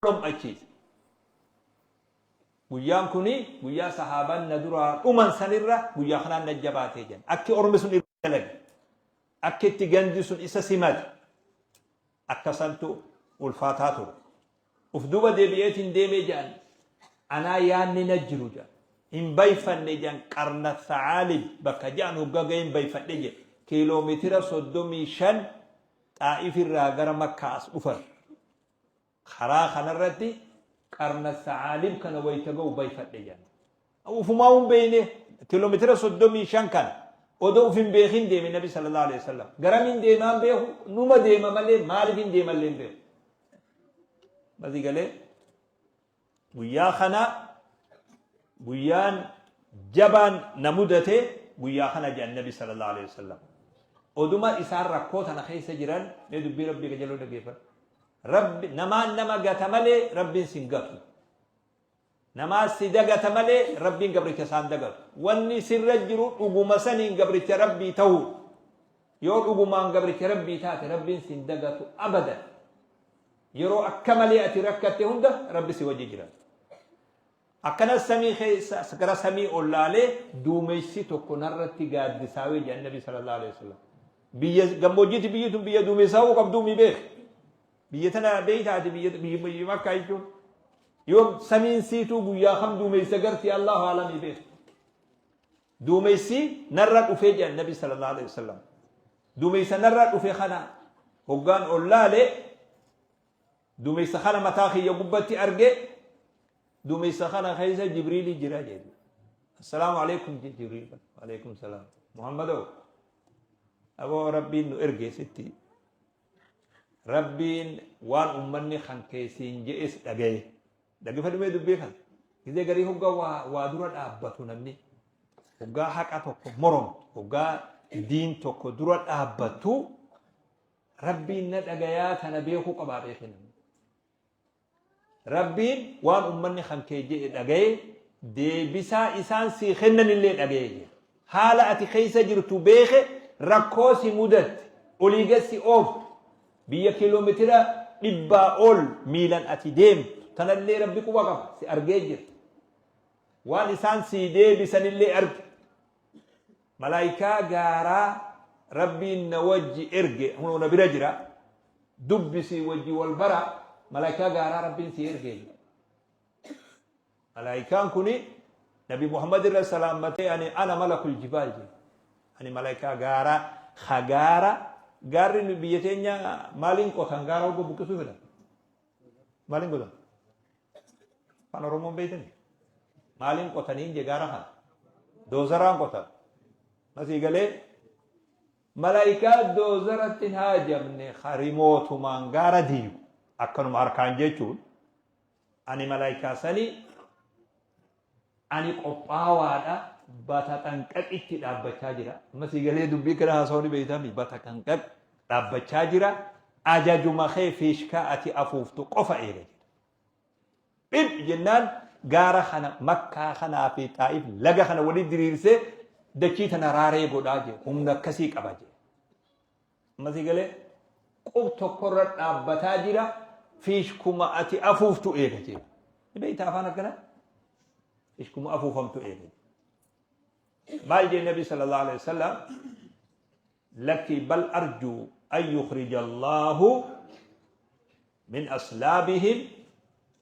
dhom'achiise. Guyyaan kun guyyaa sahaabaan na duraa dhuman sanirra guyyaa kanaan na jabaatee jedhan. Akki ormi sun irra dalage. Akki itti gandi sun isa simate. Akka santu ulfaataa ture. Uf duuba deebi'eetiin deemee jedhan. Anaa yaanni na jiru jedhan. Hin bayfanne jedhan qarna sa'aalib bakka jedhan hoggaa ga'ee hin bayfadhe jedhe. Kiiloomeetira soddomii shan xaa'if irraa gara makkaa as dhufan. Karaa kanarratti qarna sa'aalib kana wayita ga'u bayfadhe jedha. Ufumaa hin beekne kiiloomeetira soddomii shan kana odoo uf hin beekin deeme nabi sallallahu alaihi wasallam. Garamiin deemaan beeku numa deema malee maaliif hin deemallee hin beeku. Masii galee Guyyaa kana guyyaan jabaan na mudate guyyaa kana jedhan nabi sallallahu alaihi wasallam. Oduma isaan rakkoo tana keessa jiran mee dubbii rabbii qajeeloo dhaggeeffadha. Rabbi namaan nama gata malee rabbiin sin gatu. Namaa si dagata malee rabbiin gabricha isaan dagatu. Wanni sirra jiru dhuguma saniin gabricha rabbii ta'u. Yoo dhugumaan gabricha rabbii taate rabbiin sin dagatu abadan. Yeroo akka malee ati rakkatte hunda Rabbi si wajji jira. Akkanas samii keessa gara samii ol laalee duumessi tokko narratti gaaddisaawee jedhan Nabi sallallahu alaihi wasallam. Biyya gammoojjiitti biyyi tun biyya duumessaawuu qabduu mi beek. Biyya tana beeytaati biyya biyya makkaa jechuun. Yoo samiin siituu guyyaa kam duumessa garti Allahu alamii beek. Duumessi narra dhufe jedhan Nabi sallallahu alaihi wasallam. Duumessa narra dhufe kana hoggaan ol laale duumessa kana mataa kiyya gubbatti arge duumessa kana keessa Jibriili jira jedhu. Assalaamu alaikum jedhe Jibriil. Alaikum salaam. Muhammadoo aboo rabbiin nu erge sitti. Rabbiin waan ummanni kan keessiin je'es dhagaye. Dhagefadhu mee dubbii kana. Gizee garii hoggaa waa, waa dura dhaabbatu namni. Hoggaa haqa tokko moromtu. Hoggaa diin tokko dura dhaabbattu rabbiin na dhagayaa tana beekuu qabaa beekee namni. Rabbiin waan ummanni kan kee jedhe dhagaye deebisaa isaan sii kennanillee dhagaye jira. Haala ati keessa jirtu beeke rakkoo si mudatte olii gassi ooftu. Biyya kilometira dhibbaa ol miilan ati deemtu tanallee Rabbi quba qaba, si argee jira. Waan isaan sii deebisanillee arge. Malaaykaa gaaraa Rabbiin na wajji erge hunoo na bira jira. Dubbisii wajji wal bara malaaykaa gaaraa Rabbiin sii erge. Malaayikaan kun Nabi Muhammad irra salaammatee ani ana malakul jibaal jedhe. Ani malaayikaa gaaraa ha gaara gaarri nu biyya teenya maaliin qotan gaara hogga buqqisuu fedhan. Maaliin qotan? Afaan Oromoon beektanii? Maaliin qotaniin je gaara kana? Doozaraan qotan. Masii galee malaayikaa doozaratti hin haajamne ha rimootumaan gaara diigu akkanuma harkaan jechuun Ani malaaykaa sani, ani qophaawaadha, bataxanqaqitti dhaabbachaa jira. Amma sii galee dubbii kana haasawuu ni beeytami. Bataxanqaq dhaabbachaa jira. Ajajuma kee fiishkaa ati afuuftu qofa eega jedha. Dhib jennaan gaara kana makkaa kanaa fi xaa'if laga kana walitti diriirsee dachii tana raaree godhaa jedhe. Humna akkasii qaba jedhe. Mati gale qub tokkorra dhaabbataa jira fiishkuma ati afuuftu eega jechuudha. Ni beektaa afaan akkanaa? Fiishkuma afuufamtu eega. Maal jee Nabi sallallahu alaihi wasallam lakkii bal arjuu an yukhrija Allahu min aslaabihim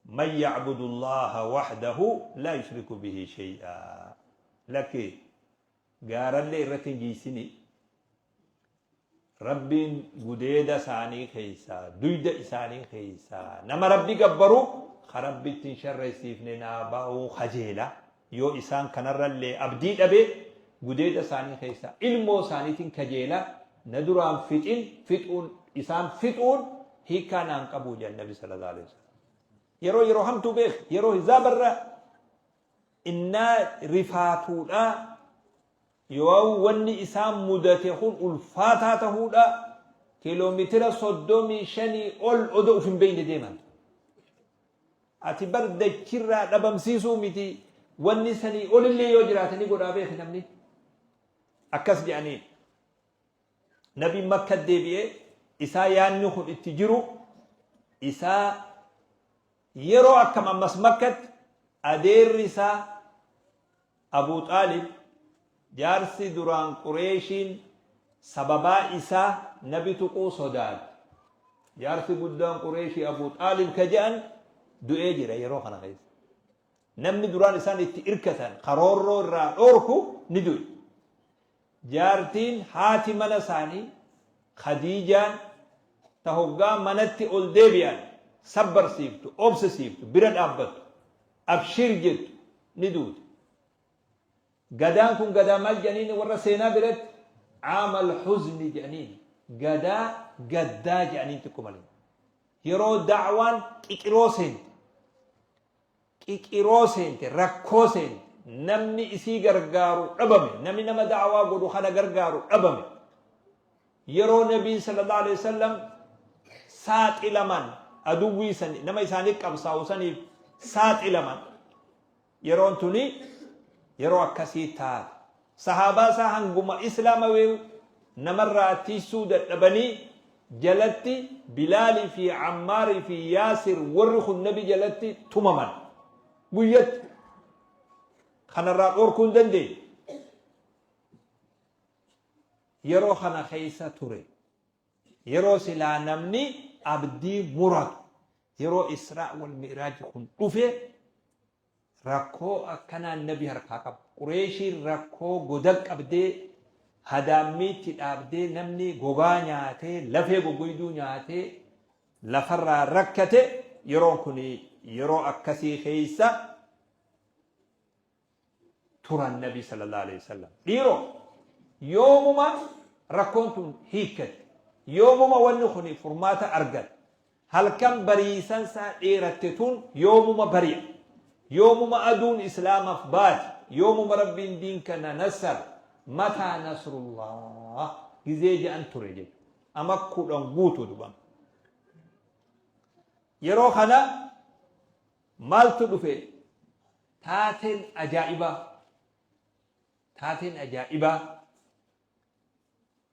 man ya'budu Allaha wahdahu laa yushriku bihi shay'aa. Lakkii gaarallee irratti hin jiisinii, Rabbiin gudeeda isaanii keessaa, duyda isaanii keessaa, nama Rabbi gabbaru ka Rabbi ittiin sharreessiifne naa ba'uu kajeela. Yoo isaan kanarrallee abdii dhabe gudeeda isaanii keessaa ilmoo isaaniitiin kajeela na duraan fixin fixuun isaan fixuun hiikaa naan qabuu jedhan Nabi sallallahu alaihi wasallam. Yeroo yeroo hamtuu beek yeroo hizaabarra innaa rifaatuudha, yooan wanni isaan mudate kun ulfaataa tahuudha, kilomeetira soddomii shanii ol odo uf hin beeyne deeman. Ati bar dachirraa dhabamsiisuu miti, wanni sanii olillee yoo jiraate ni godhaa beeki namni. Akkas je'aniin. Nabiin Makka deebi'e isaa yaanni kun itti jiru isaa yeroo akkam ammas Makkatti adeerri isaa Abuu Xaalib jaarsi duraan Qureeshiin sababaa isaa nabi tuquu sodaate. Jaarsi guddaan Qureeshii Abuu Xaalib ka je'an du'ee jira yeroo kana keessa. Namni duraan isaan itti irkatan ka roorroo irraa dhoorku ni du'e. Jaartiin haati mana isaanii Khadiijaan ta hoggaa manatti ol deebi'an sabbarsiiftu, obsisiiftu, bira dhaabbattu, abshiir jettu ni duute. Gadaan kun gadaa maal jedhaniin warra seenaa biratti aamal huzni jedhaniin gadaa gaddaa jedhaniin xiqqo malee. Yeroo da'waan qiqiroo seente qiqiroo seente rakkoo seente namni isii gargaaru dhabame nami nama da'awaa godhu kana gargaaru dhabame yeroo nabiin sallallahu alaihi wasallam saaxilaman aduwwii san nama isaanii qabsaa'u saniif saaxilaman yeroon tuni yeroo akkasii taate Sahaabaa isaa hanguma Islaama wee'u namarraa tiysuu dadhabanii jalatti Bilaalii fi Ammaarii fi Yaasir warri kun Nabi jalatti tumaman. Guyyatti kanarraa dhorkuu hin dandeenye. Yeroo kana keessa ture. Yeroo silaa namni abdii muratu. Yeroo Israa wal Mi'raaj kun dhufe Rakkoo akkanaa nabi harkaa qaba. Qureeshiin rakkoo goda qabdee hadaammiitti dhaabdee namni gogaa nyaatee lafee gogoyduu nyaatee lafarraa rakkate yeroon kun yeroo akkasii keessa turan nabi sallallahu alaihi wasallam. Dhiiroo yoomuma rakkoon tun hiikkate yoomuma wanni kun furmaata argate Halkan bariisan saa dheeratte tun yoomuma bari'a? Yoomuma aduun Islaamaf baati? Yoomuma Rabbiin diin kana nassar? Mataa nasrullaah? Gizee ja'an ture jechu. Ama kudhan guutu dubama. Yeroo kana maaltu dhufe? Taateen ajaa'ibaa, taateen ajaa'ibaa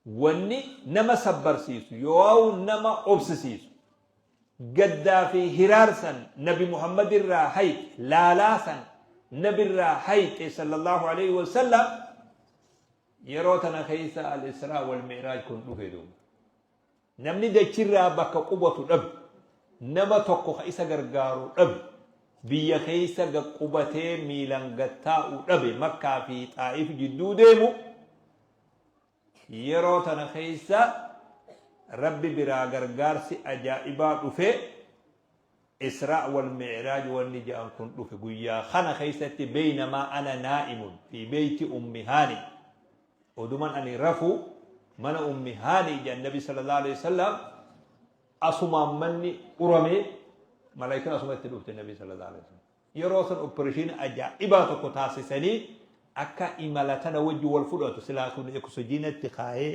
Wanni nama sabbarsiisu yooaw nama obsisiisu gaddaa fi hiraarsan nabi Muhammad irraa hayxe laalaa san nabi irraa hayxe sallallahu aleyhi wa sallam yeroo tana keessa al-israa wal-mi'raaj kun dhufe duuba. Namni dachirraa bakka qubatu dhabe, nama tokko ka isa gargaaru dhabe, biyya keessa gad qubatee miilan gad taa'u dhabe, Makkaa fi Xaa'if jidduu deemu yeroo tana keessa Rabbi biraa gargaarsi ajaa'ibaa dhufe, Israa wal Mi'raaj wanni ja'an kun dhufe. Guyyaa kana keessatti beynamaa ana naa'imun fi beyti ummi haani. Oduman ani rafu mana ummi haani jedhan nabi sallallahu alaihi wasallam asumaan manni urame malaayikan asuma itti dhufte nabi sallallahu alaihi wasallam yeroo san operation ajaa'ibaa tokko taasisanii akka imala tana wajji wal fudhatu silaa sun eksojiinatti kaa'ee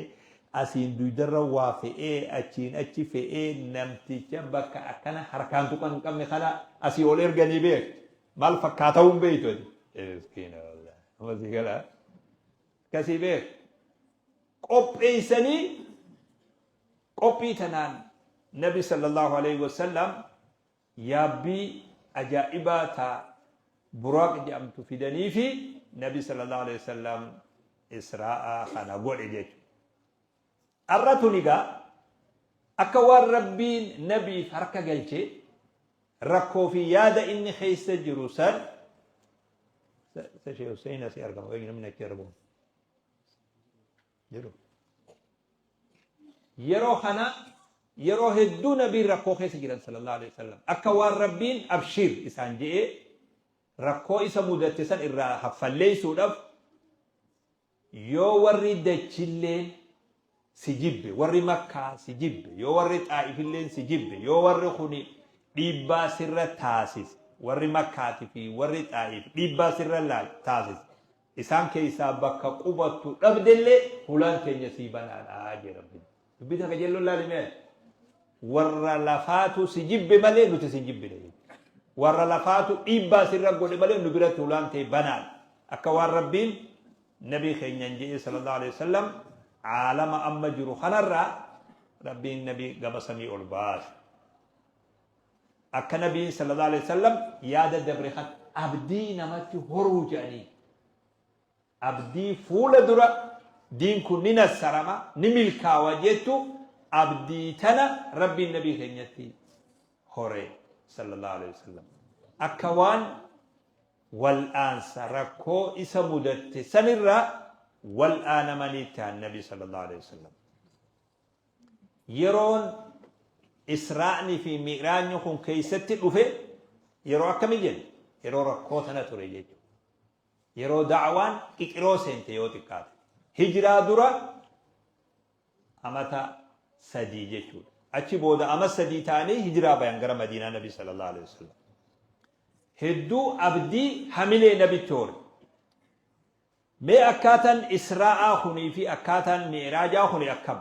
asiin duydarra waa fe'ee achiin achi fe'ee namticha bakka akkana harkaan tuqan hin qabne kana asii ol erganii beekti. Maal fakkaata'uu hin beektu ati. Miskiina wallah. Amma si gala. Akkasii beek. Qopheessanii qophii tanaan Nabi sallallahu alaihi wasallam yaabbii ajaa'ibaa taa buraaq jedhamtu fidanii fi Nabi sallallahu alaihi wasallam Israa'a kana godhe jechuudha. Arra tuni gaa akka waan Rabbiin nabiif harka galche rakkoo fi yaada inni keessa jiru san Sa Sheikh Hussein asii argama wayii namni achi argamu jedhu. Yeroo kana yeroo hedduu nabiin rakkoo keessa jiran sallallahu alaihi wasallam akka waan rabbiin abshiir isaan je'ee rakkoo isa mudatte san irraa haffalleessuudhaaf Yoo warri dachilleen si jibbe, warri Makkaa si jibbe, yoo warri Xaa'ifilleen si jibbe, yoo warri kuni dhiibbaa sirra taasise, warri Makkaati fi warri Xaa'if dhiibbaa sirra taasise, isaan keessaa bakka qubattu dhabdellee hulaan teenya sii banaadha jee Rabbiin. Dubbii takka jalloo laali mee ati. Warra lafaatu si jibbe malee nuti si hin jibbine jechuudha. Warra lafaatu dhiibbaa sirra godhe malee nu biratti hulaan ta'e banaan. Akka waan Rabbiin nabii keenyaan jedhee sallallahu alaihi wasallam caalama amma jiru kanarraa Rabbiin nabii gama samii ol baase. Akka nabiin sallallahu alaihi wasallam yaada dabre kan abdii namatti horuu jedhanii Abdii fuula dura diin kun ni nassarama, ni milkaawa jettu abdii tana Rabbiin Nabii keenyatti hore sallallahu aleyhi wasallam. Akka waan wal'aansa rakkoo isa mudatte sanirraa wal'aanamanii ta'an Nabii sallallahu aleyhi wasallam. Yeroon Israa'ni fi Mi'raajni kun keessatti dhufe yeroo akkami jenna? Yeroo rakkoo tana ture jechuudha. Yeroo da'awaan Qiqiroo seente yoo xiqqaate. Hijraa dura amata sadii jechuudha. Achi booda ama sadii ta'anii hijraa bayan gara Madiinaa Nabi sallallahu alaihi wasallam. Hedduu abdii hamilee nabitti hore. Mee akkaataan Israa'aa kunii fi akkaataan Mi'iraajaa kuni akkam?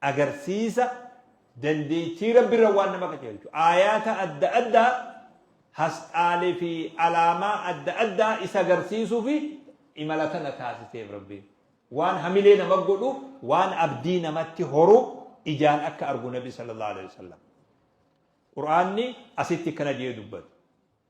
agarsiisa dandeettii Rabbi irra waan nama qajeelchu. Aayaata adda addaa hasxaalee fi alaamaa adda addaa isa agarsiisuu fi imala tana taasiseef Rabbiin. Waan hamilee nama godhu, waan abdii namatti horu ijaan akka argu Nabi sallallahu alaihi wasallam. Qur'aanni asitti akkana jedhee dubbate.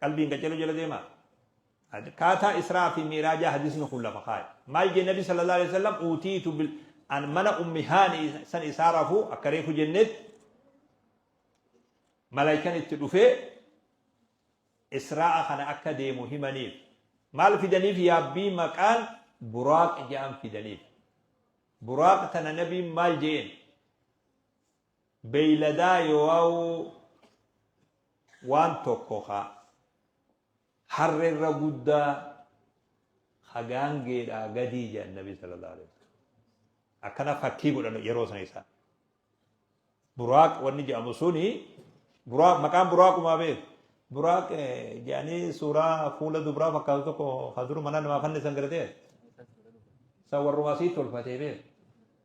Qalbiin qaceluu jala deemaa? Akkaataa Israa fi Mi'raajaa hadiisni kun lafa kaaye. Maal jee Nabi sallallahu alaihi wasallam uutiitu bil an mana ummi haani san isaa rafu akka reefu jennetti malaayikan itti dhufee Israa'a kana akka deemu himaniif. Maal fidaniif yaabbii maqaan buraaq ja'an fidaniif. Buraaq tana nabiin maal jeen? beeyladaa yooau waan tokko ka harre irra guddaa ka gaangeedhaa gadii jedhan nabi sallallahu alaihi wasallam akkana fakkii godhan yeroo sana isaa buraaq wanni jedhamu suni buraaq maqaan buraaqumaa beeku buraaq jedhanii suuraa fuula dubraa fakkaatu tokko ka duru mana namaa fannisan garatee isa warrumaa sii tolfatee beeku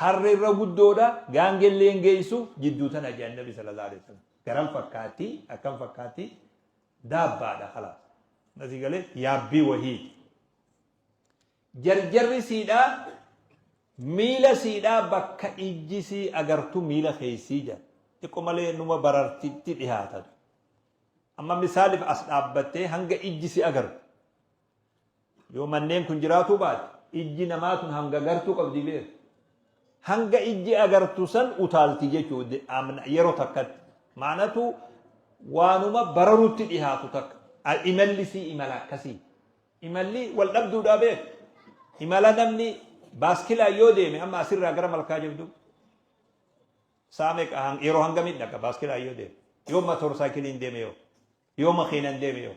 Harre irra guddoodha, gaangellee hin geessu, jidduu tana jedhan Nabi sallallahu alaihi wasallam. Garan fakkaatti, akkam fakkaatti, daabbaadha kalaas. Nasii galee yaabbii wahiiti. Jarjarri siidhaa miila siidhaa bakka ijji sii agartu miila keessii jedha. Xiqqo malee numa barartitti dhihaata. Amma misaaliif as dhaabbattee hanga ijji si agartu. Yoo manneen kun jiraatuu baate ijji namaa tun hanga gartuu qabdi beeka. Hanga ijji agartu san utaalti jechuu yeroo takkatti. Maanatu waanuma bararutti dhihaatu takka. Imalli sii imala akkasii. Imalli wal dhabduudhaa beeka. Imala namni baaskilaan yoo deeme amma asirraa gara malkaa jabduu. Saa meeqa yeroo hangamii dhaqa baaskilaan yoo deeme. Yoo motor saayikiliin deeme yoo. Yoo makiinaan deeme yoo.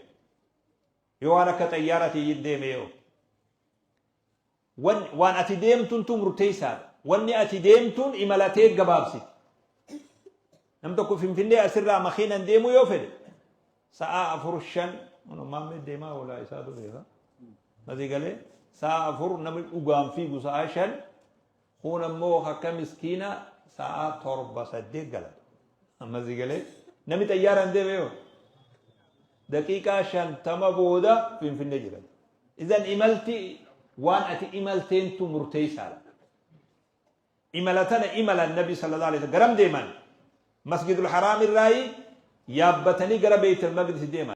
Yoo waan akka xayyaaratii yin deeme yoo. Wan, waan ati deemtuntu murteessaadha. Wanni ati deemtuun imalatee gabaabsiti. Nam tokko Finfinnee asirraa makiinan deemuu yoo fedhe sa'aa afur shan maammee deemaa oolaa isaa dureera. Masii galee sa'aa afur namni dhugaan fiigu sa'aa shan Kuun ammoo akka miskiina sa'aa torba saddeet galata. Amma si galee namni xayyaaraan deeme yoo daqiiqaa shantama booda finfinnee jiran. Izan imalti waan ati imalteentu murteessaadha. Imala tana imalan nabi sallallahu alaihi wasallam garam deeman masjidul haraam irraayi yaabbatanii gara beeytal maqdis deeman.